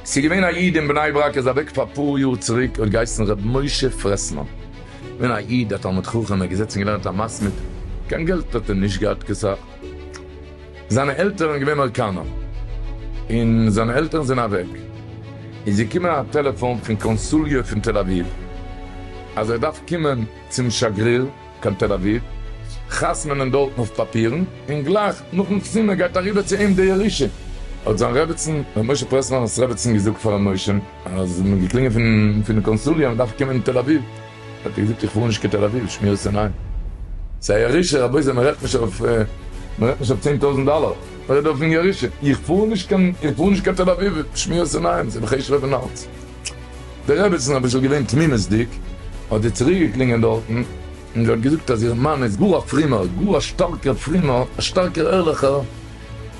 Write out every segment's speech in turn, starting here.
ס'איז געווען א איד אין בני ברק איז אוועק פאר אפאר יאר צוריק האט געהייסן ר' משה פרעסמאן געווען א איד א תלמיד חכם ער איז געזעצן געלערנט א מסמיד קיין געלט האט ער נישט געהאט כסך. זיינע עלטערן איז געווען אויקאנא, און זיינע עלטערן זענען אוועק, איז געקומען א טעלעפאן פון קאנסוליע פון תל אביב, אז ער דארף קומען צום שגריר קיין תל אביב, חתמ'נען דארטן אויף פאפירן, און גלייך נאכן חתימה גייט אריבער צו אים די ירושה. האט זיין רעבעצן, ר' משה פרעסלענער'ס רעבעצן געזאגט פאר ר' משה, אז מ'האט געקלינגען פון די קאנסוליע אז מ'דארף קומען אין תל אביב, האט ער געזאגט איך פאר נישט קיין תל אביב שמירת עיניים סאיז א ירושה רבותי מרעדט נישט אויף מרעדט נישט אויף צען טויזענט דאלער מרעדט אויפן ירושה איך פאר נישט קיין איך פאר נישט קיין תל אביב שמירת עיניים סאיז בחשבון פון אלץ די רעבעצן אביסל געווען תמימותדיג האט זי צוריק געקלינגען דארטן און זי האט געזאגט אז איר מאן איז גאר א פרומער גאר א שטארקער פרומער א שטארקער ערליכער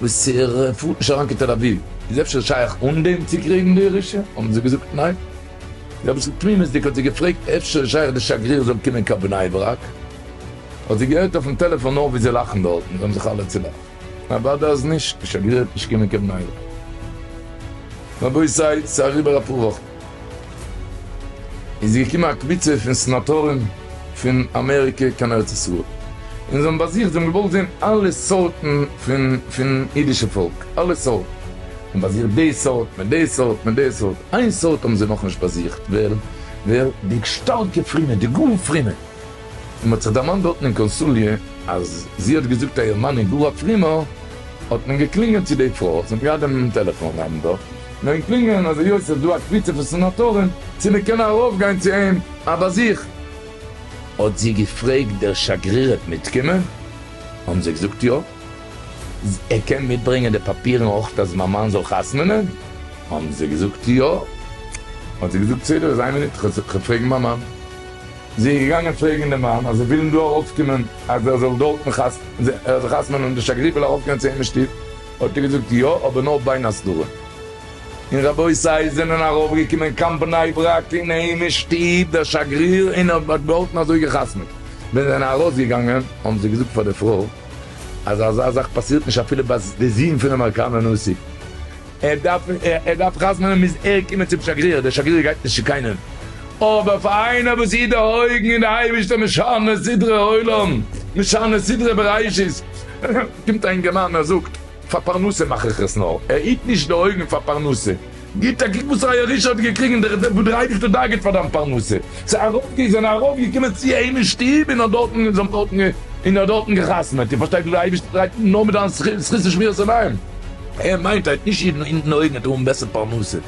וואס ער פארט נישט אריין קיין תל אביב איז אפשר שייך אן דעם צוקריגן די ירושה האבן זיי געזאגט ניין. רביצן תמימות'דיג האט זי געפרעגט אפשר איז שייך די שגריר זאל קומען קיין בני ברק, האט זי געהערט אויפן טעלעפאן נאר ווי זיי לאכן דארטן, זיי האבן זיך אלע צולאכט, אוודאי אז נישט, די שגריר וועט נישט קומען קיין בני ברק. רבותי ס'איז אריבער אפאר וואכן, איז געקומען א קבוצה פון סנאטארן פון אמעריקע קיין ארץ ישראל, און זיי האבן באזוכט, זיי האבן געוואלט זען אלע סארטן פון פון אידישע פאלק, אלע סארטן. און באזוכט די סארט מיט די סארט מיט די סארט, איין סארט האבן זיי נאכנישט באזוכט, ווער? ווער? די שטארקע פרומע, די גאר פרומע, און מ'האט זיך דערמאנט דארטן אין קאנסוליא אז זי האט געזאגט אז איר מאן איז גאר א פרומער, האט מען געקלינגען צו די פרוי, זי האט געהאט דעם טעלעפאן נעבן דארט, נעבן קלינגען אז היות ס'איז דא א קבוצה פון סענאטארן צו מיר קענען ארויפגיין צו אים א באזוך, האט זי געפרעגט דער שגרירת מיטקומען, האבן זיי געזאגט יא. ער קען מיטברענגען די פאפירן אויך אז מיין מאן זאל חתמ'נען? האבן זיי געזאגט יא. האט זי געזאגט בסדר איז איין מינוט כ'גיי פרעגן מיין מאן. זי איז געגאנגען פרעגן די מאן אז זיי ווילן דא ארויפקומען אז ער זאל דארטן חתמ'נען און די שגריר וויל ארויפקומען צו אים אין שטוב, האט ער געזאגט יא אבער נאר ביין הסדרה. און רבותי זענען ארויפגעקומען קיין בני ברק אין אים אין שטוב דער שגריר און ער האט דארטן אזוי געחתמ'ט. ווען זיי זענען ארויסגעגאנגען האבן זיי געזאגט פאר די פרוי. אז אזא זאך פאסירט נישט אפילו ביי די זון פון אמעריקאנער נשיא, ער דארף ער דארף חתמ'נען מוז ער קומען צום שגריר, דער שגריר גייט נישט צו קיינעם, אבער פאר איינער וואס איז דערהויגן אין די אייבערשטער משנה סדרי עולם משנה סדרי בראשית, קומט א אינגערמאן ער זאגט. פאר פרנסה מאך איך עס נאר, ער היט נישט די אויגן פאר פרנסה. גיב א קוק וואס ר' אלישע האט געקריגן דורך דעם וואס דער אייבערשטער דאגה'ט פאר דיין פרנסה. ס'איז ארויפגע זענען ארויפגעקומען צו אים אין שטוב און האט דארטן און זיי האבן דארטן און ער האט דארטן געחתמעט. איר פארשטייט ווי דער אייבערשטער דרייט נאר מיט דיין זכות און שמירת עיניים. ער מיינט ער היט נישט אידן אונטן אויגן ער טאר האבן בעסער פרנסה.